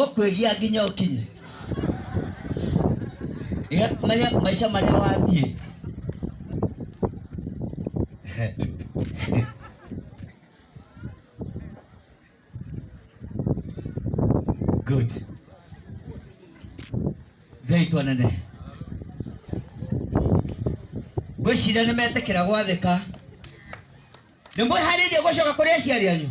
ũkwĩgia nginya ũkinye Iga- maya- maica marĩa wathiĩ good ngai twanene ngwĩciria nĩ metĩkĩra gwathĩka nĩ mwĩharĩirie gũcoka kũrĩ aciari anyu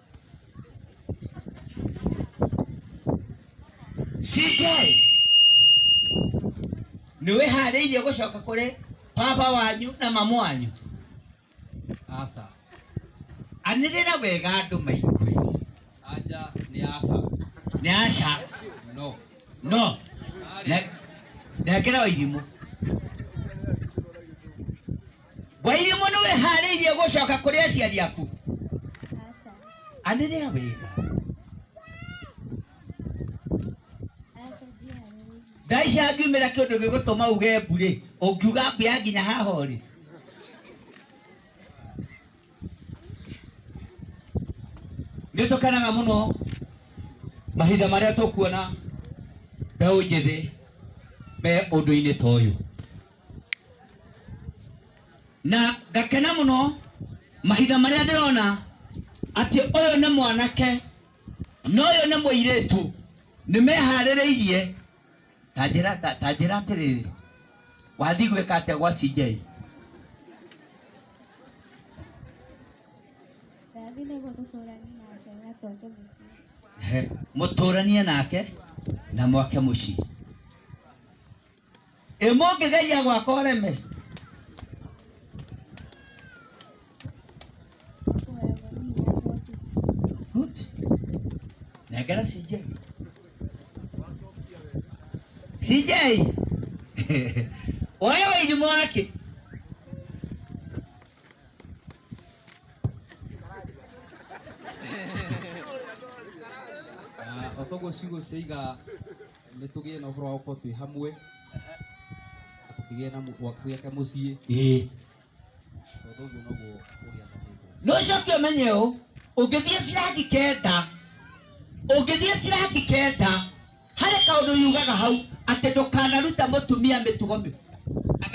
CK nĩ wĩharĩirie gũcoka kũrĩ baba wanyu na mamu wanyu aca anĩrĩra wega andũ maigwe anja nĩ aca nĩ aca no no ne- nengera wa irimũ wairimũ nĩ wĩharĩirie gũcoka kũrĩ aciari aku Aca. anĩrĩra wega Aca ndiharĩirie. thaa ici angiumĩra kĩndũ gĩgũtũma uge mbũrĩ ũngiuga mbĩa nginya haha ũrĩ nĩ tũkenaga mũno mahinda marĩa tũkuona mbeũ njĩthĩ me ũndũ-inĩ ta ũyũ na ngakena muno mahinda marĩa ndĩrona atĩ ũyũ nĩ mwanake na ũyũ nĩ mũirĩtu nĩ meharĩrĩirie ta njĩra ta- ta njĩra atĩrĩrĩ wathiĩ gwĩka atĩa gwa CJ Ndathi nĩguo tũtũũranie nake na tũake mũciĩ. He, mũtũranie nake na mwake mũciĩ ĩ mũngĩgeria gwaka ũreme Good. nengera CJ CJ oya wairimu wake Ah, otoguo ciugo ciaiga nä tå gä e na å horo wa gå korwo twä hamwe na tå kä gä e na gwä ake må ciä ĩĩ tondå å guo noguo å gä athanä no coke ũmenye ũũ ũngĩthiĩ cirangi kenda ũngĩthiĩ cirangi kenda harĩ kaũndũ yugaga hau atĩ ndũkanaruta mũtumia mĩtugo mĩũ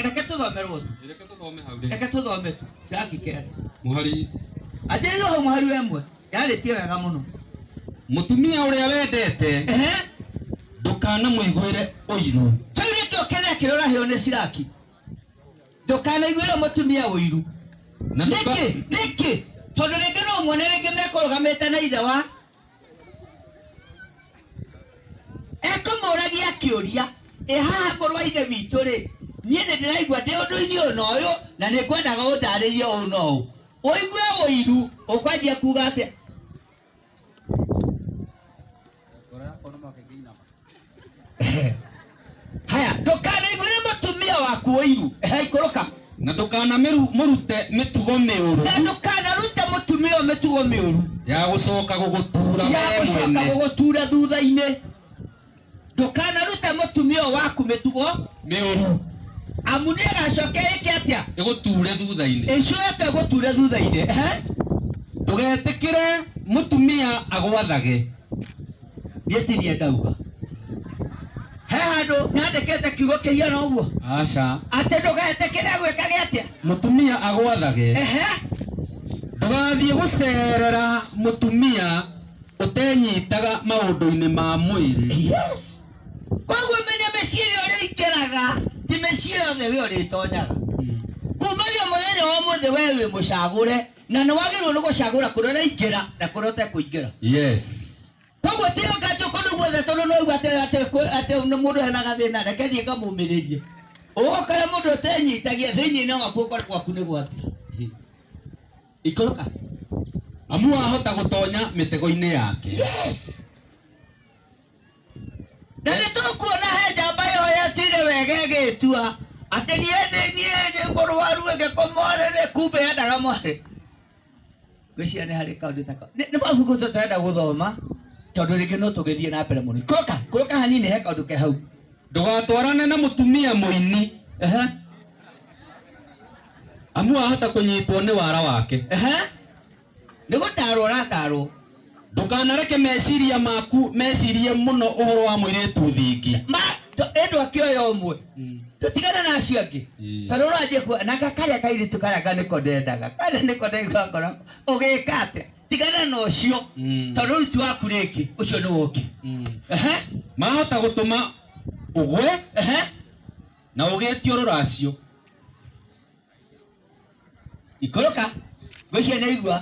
reke tũthomerwo tu reke tũthome hau reke tũthome tu cirangi kenda mũhari atĩrĩrio hau mũhari wa ĩmwe yarĩtie wega mũno mũtumia ũrĩa wendete ehe ndũkanamũiguĩre ũiru kĩu nĩkĩo kĩrĩa kĩrorahĩo nĩ ciraki ndũkanaiguĩre mũtumia ũiru na nĩkĩ ndũka- nĩkĩ tondũ rĩngĩ no muone rĩngĩ mekũrũgamĩte na ithe wa ekũmũragia kĩũria ĩ haha mũrũ wa ithe witũ rĩ niĩ nĩ ndĩraigua ndĩ ũndũ-inĩ ũyũ na ũyũ na nĩ ngwendaga ũndarĩrie ũũ na ũũ Ũigue ũiru ũkwanjia kuga atĩa? Haya, ndũkanaiguĩre mũtumia waku ũiru. Ehe, ikũrũka. na ndũkanamũrute mĩtugo mĩũru Na ndũkanarute mũtumia ũyũ mĩtugo mĩũru ya gũcoka gũgũtura ya we gũcoka mwene gũgũtura thutha-inĩ. ndũkanarute mũtumia ũyũ waku mĩtugo nĩ ũru amu nĩ agacoke ĩke atĩa ĩgũture thutha-inĩ ĩcoke ĩgũture thutha-inĩ Ehe. ndũgetĩkĩre mũtumia agwathage niĩ ti niĩ ndauga he handũ nyandĩkĩte kiugo kĩhiana ũguo aca atĩ ndũgetĩkĩre gwĩka gĩ atĩa mũtumia agwathage Ehe. ndũgathiĩ gũcerera mũtumia ũtenyitaga maũndũ-inĩ ma mwĩrĩ. Yes. Koguo menya mĩciĩ ĩrĩa ũrĩingĩraga ti mĩciĩ yothe we ũrĩtonyaga. Mm. Kumagia mũthenya wa ũmũthĩ we wĩ mũcagũre na nĩ wagĩrĩirwo nĩ gũcagũra kũrĩa ũraingĩra na kũrĩa ũtekũingĩra. Yes. Koguo ti ũka atĩ kũndũ guothe tondũ no uga atĩ atĩ kwĩ- atĩ nĩ mũndũ hena gathĩna reke thiĩ ngamũmĩrĩrie. Ũgũkora mũndũ ũtenyitagia thĩinĩ-inĩ waku ũkore gwaku nĩ gwathira. ikoroka amu wahota gũtonya mĩtego-inĩ yake yes na nĩ tũkuona he njamba ĩhoyetire wega ĩgĩtua atĩ niĩ ndĩ niĩ ndĩ mũrwaru ĩgĩkomorere kumbe yendaga mwarĩ gwĩciria nĩ harĩ kaũndũ taka nĩ nĩ mabuku tũtenda gũthoma tondũ rĩngĩ no tũgĩthiĩ na mbere mũno ikũrũka ikũrũka hanini he kaũndũ ke hau ndũgatwarane na mũtumia mũini Ehe. amu ahota kũnyitwo nĩ wara wake Ehe. nĩ gũtarwo ũratarwo ndũkanareke meciria maku mecirie mũno ũhoro wa mũirĩtu thingi ma to- ĩndũ akĩoya ũmwe Mm. tũtigana na acio angĩ Mm. tondũ ũranjia kuo na gakarĩa kairĩtu karĩa ka nĩko ndendaga karĩa nĩko ndaigua ngoro ũgĩka atĩa tigana na ũcio Mm. tondũ rĩu ti waku rĩngĩ ũcio nĩ woki Mm. Ehe, mahota gũtũma ũgwe ehe. na ũgĩtio rũracio ikũrũka ngwĩciria nĩ aigua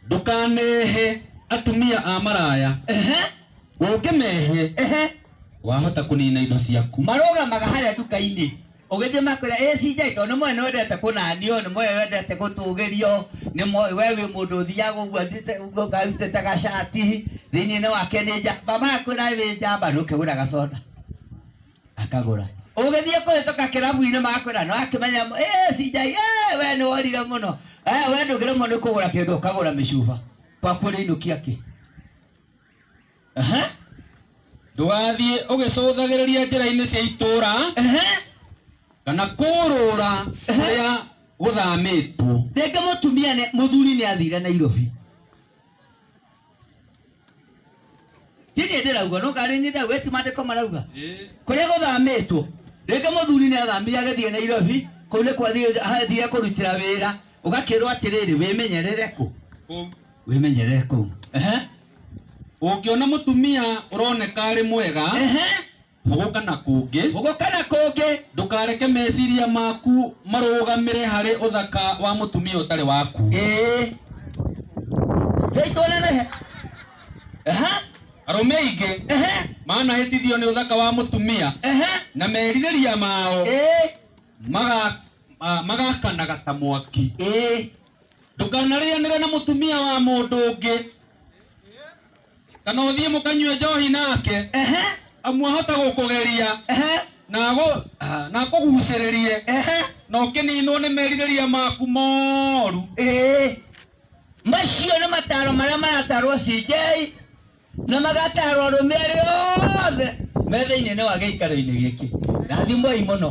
ndũkanehe atumia a maraya ehe ũngĩmehe ehe wahota kũnina indo ciaku marũgamaga harĩa nduka-inĩ ũgĩthiĩ makwĩra ĩ CJ tondũ nĩ moĩ nĩ wendete kũnanio nĩ moĩ wendete gũtũgĩrio nĩ moĩ we wĩ mũndũ ũthiaga ũguo athiĩte- ũguo ngarutĩte gacati thĩinĩ-inĩ wake nĩ njamba makwĩra wĩ njamba nĩ ũkĩgũra gaconda akagũra ũgĩthiĩ kũhĩtũka kĩrabu-inĩ makwĩra no akĩmenya "Eh, CJ eh, we nĩ worire mũno Eh, we ndũgĩrĩmwo nĩ kũgũra kĩndũ ũkagũra mĩcuba kwaku ũrĩinũkia kĩ Aha, ndũgathiĩ ũgĩcũthagĩrĩria njĩra-inĩ cia itũũra aha. kana kũrũra kũrĩa gũthamĩtwo rĩngĩ mũtumia nĩ- mũthuri nĩ athire nairobi hihi ndĩrauga no ngarĩ nĩ ndau eti mandĩko marauga Ĩ. kũrĩa gũthamĩtwo rĩngĩ mũthuri nĩ athamire agĩthiĩ nairobi kũu nĩ kwathiire kũrutĩra wĩra ũgakĩrwo atĩrĩrĩ wĩmenyerere kũ Kũ- wĩmenyerere kũu Ehe. ũngĩona mũtumia ũroneka arĩ mwega Ehe. Hugo kana kũngĩ. Hugo kana kũngĩ. Ndũkareke meciria maku marũgamĩre harĩ ũthaka wa mũtumia ũtarĩ waku. Ĩĩ. Hei tuonenehe. Aha. Arũme aingĩ. Ehe. Manahĩtithio nĩ ũthaka wa mũtumia. Ehe. Na merirĩria mao. Ĩĩ. Maga, ma, magakanaga ta mwaki. Ĩĩ. Ndũkanarĩanĩre na mũtumia wa mũndũ ũngĩ. kana å thiä må kanyue njohi nake ehe amu ahote gå kå geria ehe na agå- ah, na akå gucä rä rie ehe na å kä ninwo nä merirä ria maku moru ĩĩ macio nĩ mataro marĩa maratarwo cinjei na magatarwo arũme arĩa othe me thĩinĩ-inĩ wa gĩikaro-inĩ gĩkĩ rathimoi mũno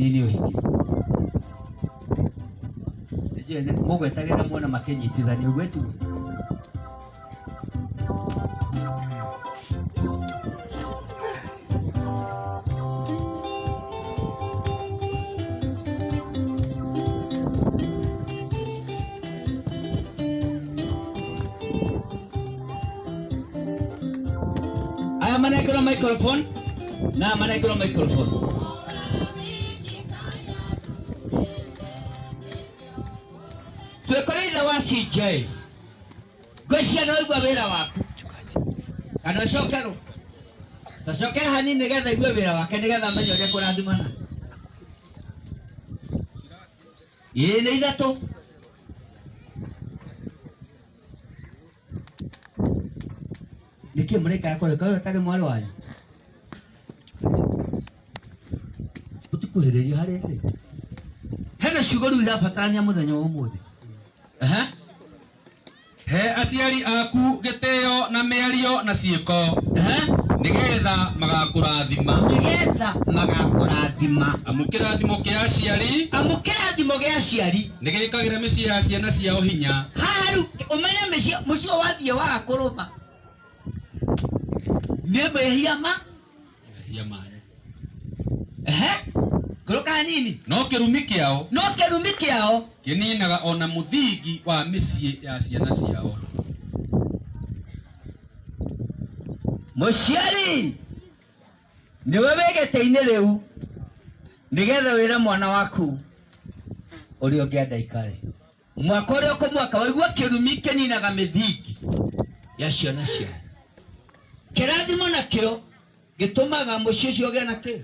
Nini ũhingi mũgwetagĩra muona makĩnyitithania ũguo tu aya manengerwo microphone na manengerwo microphone twikore ithe wa CJ ngwĩciana waigua wĩra waku kana ũcokerwo tacokera hanini nĩgetha igue wĩra wake nĩgetha amenye ũrĩa kũrathimana ĩĩ nĩ ithatũ nĩkĩ mũraika akore kawe tarĩ mwarĩ wanyu ũtikuhĩrĩria harĩa ĩrĩ hena ciugo rĩu irabatarania mũthenya wa ũmũthĩ Ehe. he aciari aku gĩtĩo na mĩario na ciĩko Ehe. nĩgetha magakũrathima nĩgetha magakũrathima amu kĩrathimo kĩa aciari amu kĩrathimo gĩa aciari Nĩ gĩkagĩra mĩciĩ ya ciana ciao hinya. Haha rĩu ũmenye mĩciĩ mũciĩ wathiĩ waga kũrũma nĩ mehia ma Mehia manyu. ehe ngũrũ kanini No kĩrumi kĩao no kĩrumi kĩao kĩninaga ona mũthingi wa mĩciĩ ya ciana ciao. mũciari nĩwe wĩ gĩtĩ-inĩ rĩu nĩgetha wĩre mwana waku ũrĩa ũngĩenda ikare mwaka ũrĩa ũkũ mwaka waigua kĩrumi kĩninaga mĩthingi ya ciana ciao kĩrathimo nakĩo gĩtũmaga mũciĩ ũcio ũgĩa na kĩ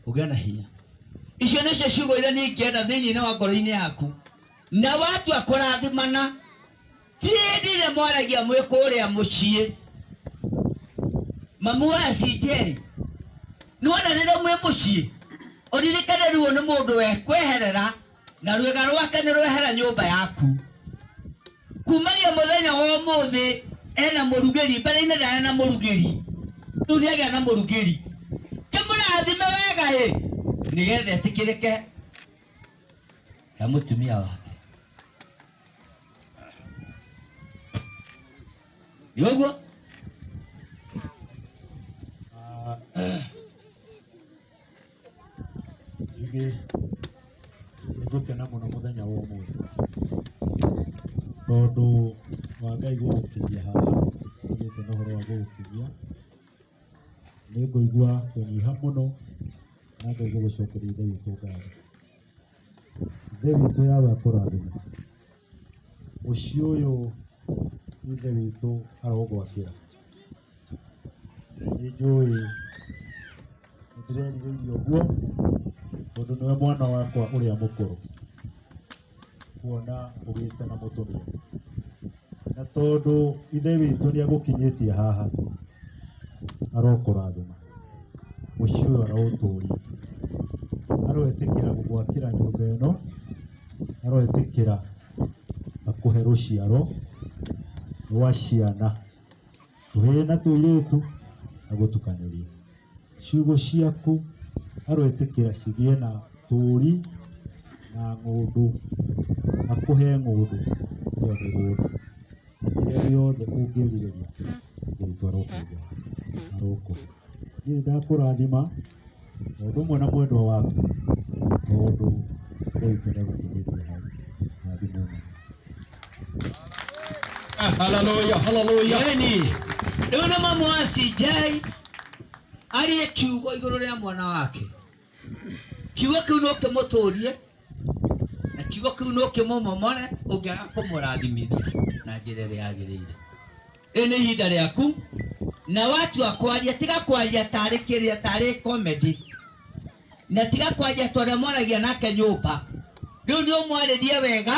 ũgĩa na hinya icio nĩcio ciugo iria niĩ ingĩenda thĩinĩ wa ngoro-inĩ yaku na watua kũrathimana Ti hĩndĩ ĩrĩa mwaragia mwĩ kũrĩa mũciĩ. Mamu wa Cinjeri, nĩwona rĩrĩa mwĩ mũciĩ, ũririkane ruo nĩ mũndũ wekweherera na rwĩga rwake nĩ rwehera nyũmba yaku. Kumagia mũthenya wa ũmũthĩ ena mũrugĩri, mbere-inĩ ndarĩ na mũrugĩri, rĩu nĩagĩa na mũrugĩri. Kĩmũrathime wega ĩ, nĩgetha etĩkĩrĩke he mũtumia wake. Yoguo Ah, rĩngĩ nĩngũkena mũno mũthenya wa ũmũthĩ tondũ wa Ngai gũgũkinyia haha ũgĩte na ũhoro wa gũgũkinyia nĩngũigua kũnyiha mũno na ngaigua gũcokeria Ngai ũtũngatho Ithe witũ Yahweh akũrathime. Mũciĩ ũyũ Ithe witũ arogwakĩra. Nĩ njũĩ nĩ ndĩrerirĩirie ũguo tondũ nĩwe mwana wakwa ũrĩa mũkũrũ kuona ũgĩte na mũtũmia. na tondũ ithe witũ nĩ agũkinyĩtie haha arokũrathima mũciĩ ũyũ araũtũria aroetĩkĩra gũgwakĩra nyũmba ĩno aroetĩkĩra akũhe rũciaro rwa ciana tũhĩĩ na tũirĩtu agũtukanĩrie Ciugũ ciaku aroĩtĩkĩra cigĩe na tũũri na ng'ũndũ, akũhe ng'ũndũ cia mĩgũnda na kĩrĩa gĩothe ũngĩrirĩria Ngai arokuhe, arokũhe. Niĩ nĩ ndakũrathima o ũndũ ũmwe na mwendwa waku tondũ Ngai witũ nĩ agũkinyĩtie hau. Rathimwo mũno. Hallelujah, hallelujah. Yeni. Rĩu nĩ mamwacinjei arie kiugo igũrũ rĩa mwana wake kiugo kĩu no kĩmũtũrie na kiugo kĩu no kĩmũmomore ũngĩaga kũmũrathimithia na njĩra ĩrĩa yagĩrĩire ĩ nĩ ihinda rĩaku na watua kwaria tiga kwaria tarĩ kĩrĩa tarĩ komedi na tiga kwaria tondũ mwaragia nake nyũmba rĩu nĩ ũmwarĩrie wega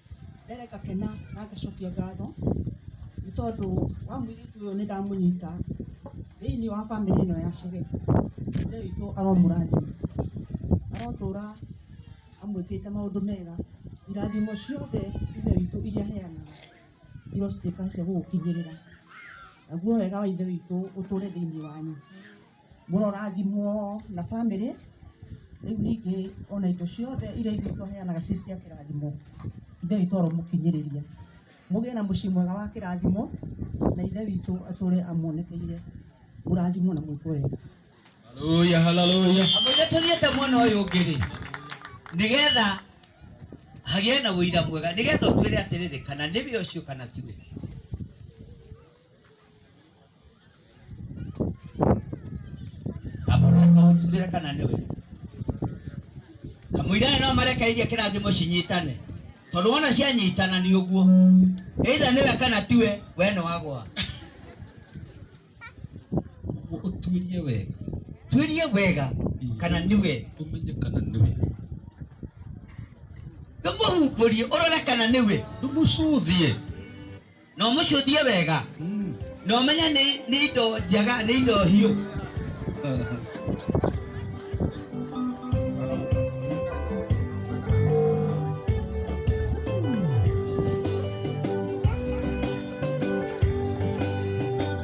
mbere ngakena na ngacokia ngatho nĩ tondũ wa mũirĩtu ũyũ nĩ ndamũnyita thĩinĩ wa bamĩrĩ ĩno ya Chege. Ithe witũ aromũrathima, arotũra amwĩkĩte maũndũ mega. Irathimo ciothe Ithe witũ iria aheanaga irotuĩka cia gũgũkinyĩrĩra. Naguo wega wa Ithe witũ ũtũre thĩinĩ wanyu. mũrorathimwo na bamĩrĩ, rĩu ningĩ ona indo ciothe iria ithuĩ tũheanaga ciĩ cia kĩrathimo, Ithe witũ aromũkinyĩrĩria. Mũgĩe na mũciĩ mwega wa kĩrathimo, na Ithe witũ atũre amuonekeire, mũrathimwo na mwĩkwo wega. Haleluya, haleluya. Amũge tũthiĩte mwena ũyũ ũngĩ-rĩ, nĩgetha hagĩe na ũira mwega, nĩgetha ũtwĩre atĩrĩrĩ, kana nĩwe ũcio kana tiwe. amũrũka ũnjugĩre kana nĩ we kamũira nĩ no marekeirie kĩrathimo cinyitane tondũ wona cianyitana nĩ ũguo either nĩwe kana tiwe we nĩ wagwa Ũguo ũtuĩrie wega tuĩrie wega kana nĩwe ũmenye kana nĩ we ndũmũhumbũrie ũrore kana nĩwe ndũmũcũthie na ũmũcũthie wega na ũmenye nĩ nĩ indo njega nĩ indo hiũ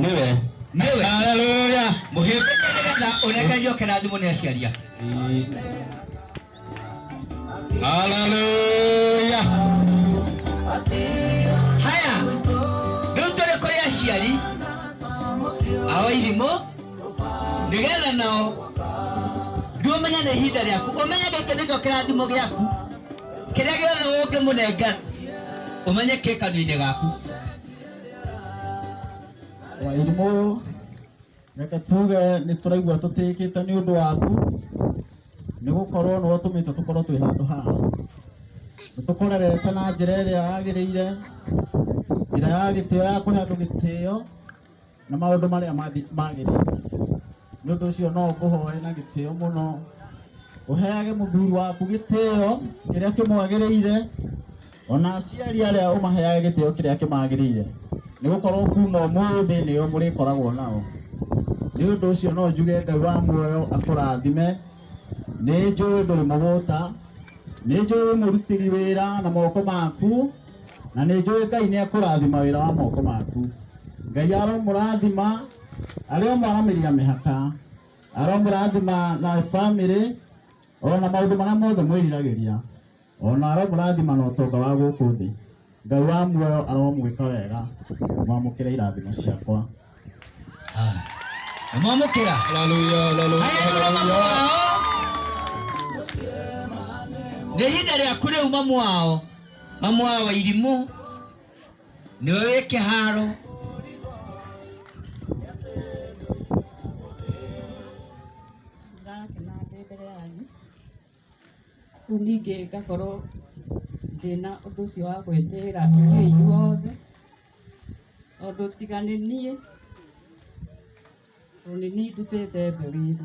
nĩwe nĩwe haleluya mũhĩmbĩke nĩgetha ũnengerio kĩrathimo nĩ aciaria haleluya haya rĩu tũrĩ kũrĩ aciari ao irimũ nĩgetha nao rĩu ũmenye nĩ ihinda rĩaku ũmenye gĩkĩ nĩkĩo kĩrathimo gĩaku kĩrĩa gĩothe ũngĩmũnengera ũmenye kĩ kanua-inĩ gaku Wairimũ, reke tuge nĩ tũraigua tũtĩkĩte nĩ ũndũ waku, nĩ gũkorwo nĩ watũmĩte tũkorwo twĩ handũ haha. Nĩ tũkũrerete na njĩra ĩrĩa yagĩrĩire, njĩra ya gĩtĩo ya kũhe andũ gĩtĩo na maũndũ marĩa magĩrĩire. nĩ ũndũ ũcio no ngũhoe na gĩtĩo mũno ũheage mũthuri waku gĩtĩo kĩrĩa kĩmwagĩrĩire ona aciari arĩa ũmaheage gĩtĩo kĩrĩa kĩmagĩrĩire nĩ gũkorwo kuma ũmũthĩ nĩo mũrĩkoragwo nao nĩ ũndũ ũcio no njuge ngai wa muoyo akũrathime nĩ njũĩ ndũrĩ mũgũta nĩ njũĩ wĩ mũrutĩri wĩra na moko maku na nĩ njũĩ ngai nĩ akũrathima wĩra wa moko maku ngai aromũrathima arĩa maramĩria mĩhaka aromũrathima na bamĩrĩ ona maũndũ marĩa mothe mwĩriragĩria ona aromũrathima na ũtonga wa gũkũ thĩ ngai wa muoyo aromwĩka wega mwamũkĩre irathimo ciakwa mwamũkĩra nĩ ihinda rĩaku rĩu mamu wao mamu wao wa irimũ nĩwe wĩ kĩharo ndĩrakena ndĩ mbere yanyu rĩu ningĩ ngakorwo ndĩna ũndũ ũcio wa gwĩtĩĩra inyuĩ inyuothe tondũ tiga nĩ niĩ Only me to take the believe.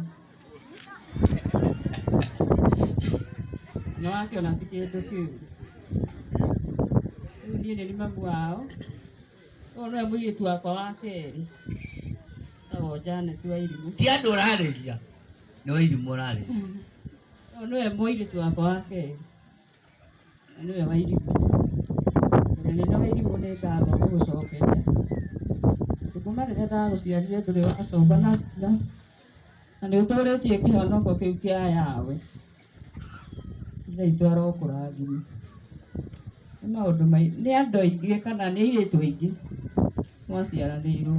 No wake ona ti kĩndũ kĩu. Rĩu niĩ nĩ mamu wao. Ũyũ nĩwe mũirĩtu wakwa wa kerĩ. Etagwo Janet wa Irimũ. ti andå å rarä ria nä wairimå å rarä Ũyũ nĩwe mũirĩtu wakwa wa kerĩ. Mũnene wa irimũ, mũnene wa irimũ nĩ ngatho ngũgũcokeria, tondũ kuma rĩrĩa ndagũciarire ndũrĩ wacoka na na na nĩ ũtũrĩtie kĩhonoko kĩu kĩa Yahweh. Ithe witũ arokũrathima. Nĩ maũndũ maingĩ, nĩ andũ aingĩ kana nĩ airĩtu aingĩ mwaciaranĩirwo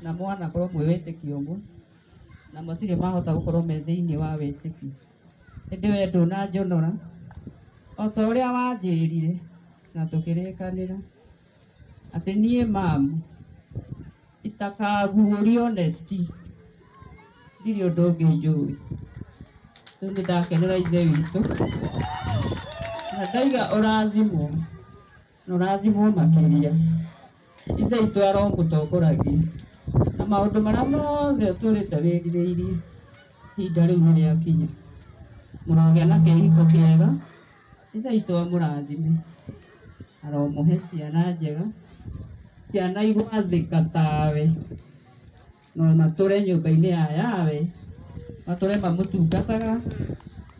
na mwanakorwo mwĩ wĩtĩkio ũmwe, na matirĩ mahota gũkorwo me thĩiniĩ wa wĩtĩkio. Ĩndĩ wee ndũnanjonora, o ta ũrĩa wanjĩĩrire na tũkĩrĩkanĩra, atĩ niĩ mamu itakaaguũrio neti, ndirĩ ũndũ ũngĩ njũĩ. Rĩu nĩ ndakenera Ithe witũ na ndaiga ũrathimwo. Mũrathimwo makĩria. Ithe witũ aromũtongoragia. Na maũndũ marĩa mothe ũtũrĩte wĩrirĩirie, ihinda rĩu nĩ rĩakinya. Mũrogĩa na kĩhiko kĩega. Ithe witũ amũrathime. Aromũhe ciana njega, ciana igwathĩka tawe. na matũre nyũmba-inĩ ya yawe matũre mamũtungataga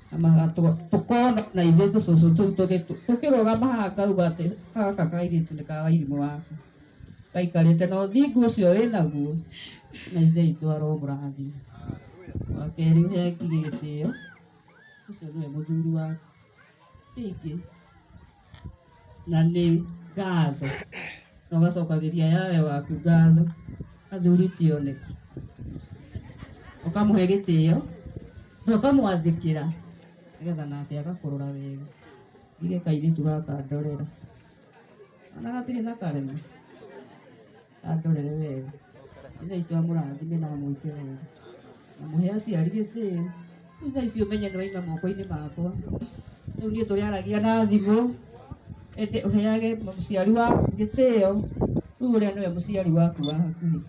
na magatũ- tũkona na ithuĩ tũcũcũ tũu tũgĩ- tũkĩrũgama haha ngauga atĩ gaka kairĩtu nĩ ka wairimũ waka gaikarĩte na ũthingu ũcio wĩ naguo na ithe itũ aromũrathi wa kerĩ ũhe ngigĩ gĩtĩo ũcio nĩwe mũthuri waku ingĩ na nĩ ngatho na ũgacokagĩria yawe waku ngatho athuri ti oneki ũkamũhe gĩtĩo na ũkamwathĩkĩra nĩgetha nake agakũrora wega ndirĩ kairĩtu gaka ndorera kana gatirĩ na karema andorere wega ithe itũ amũrathime na amwĩke wega na mũhe aciari gĩtĩo rĩu thaa ici ũmenye nĩ waima moko-inĩ makwa rĩu niĩ tũrĩaragia na thimũ ende ũheage mũciari waku gĩtĩo rĩu ũrĩa nĩwe mũciari waku wa hakuhĩ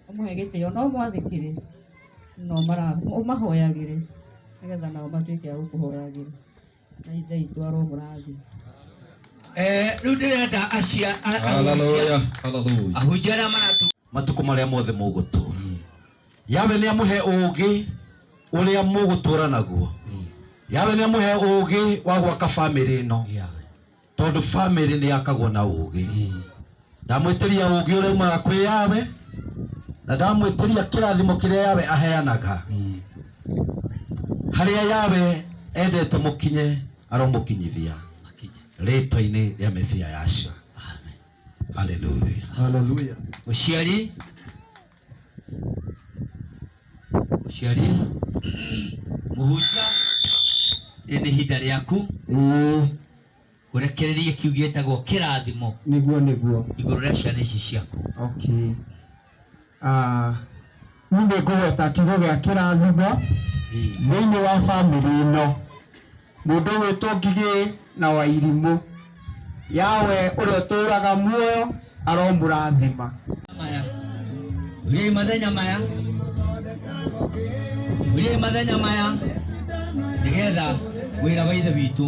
ũmũhe gĩtĩo na ũmwathĩkĩre na ũmara- ũmahoyagĩre nĩgetha nao matuĩke a gũkũhoyagĩra Eh, rĩu ndĩrenda acia a- ahunjia- Hallelujah. Hallelujah. ahunjia arĩa maratu matukũ marĩa mothe mũgũtũra Mm. yawe nĩ amũhe ũũgĩ ũrĩa mũgũtũra naguo Mm. yawe nĩ amũhe ũũgĩ wa gwaka bamĩrĩ ĩno Yeah. tondũ family nĩ yakagwo na ũgĩ ndamwĩtĩria ũgĩ ũrĩa umaga kwĩ yawe na ndamwĩtĩria kĩrathimo kĩrĩa yawe aheanaga harĩa yawe endete mũkinye aromũkinyithia rĩtwa-inĩ rĩa mesia yacio haleluya Hallelujah. Mũciari Mũciari, mũhunjia, rĩrĩ nĩ ihinda rĩaku Ĩĩ, ũrekererie kĩu gĩtagwo kĩrathimo nĩguo nĩguo. igũrũ rĩa ciana ici ciaku. Okay. Ah, niĩ nĩ ngũgweta kiugo gĩa kĩrathimo Ĩĩ. thĩinĩ wa bamĩrĩ ĩno. Mũndũ ũgwĩtwo Ngigĩ na Wairimũ. Yahweh ũrĩa ũtũũraga muoyo aromũrathima. maya uriai mathenya maya uriai mathenya maya nigetha wira wa ithe witũ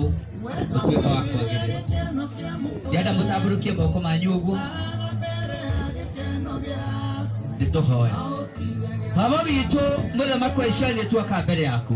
utuika wa kwagirira ndienda mutamburukie moko manyu uguo nituhoya baba witũ muthamaki wa Isiraeli nituoka mbere yaku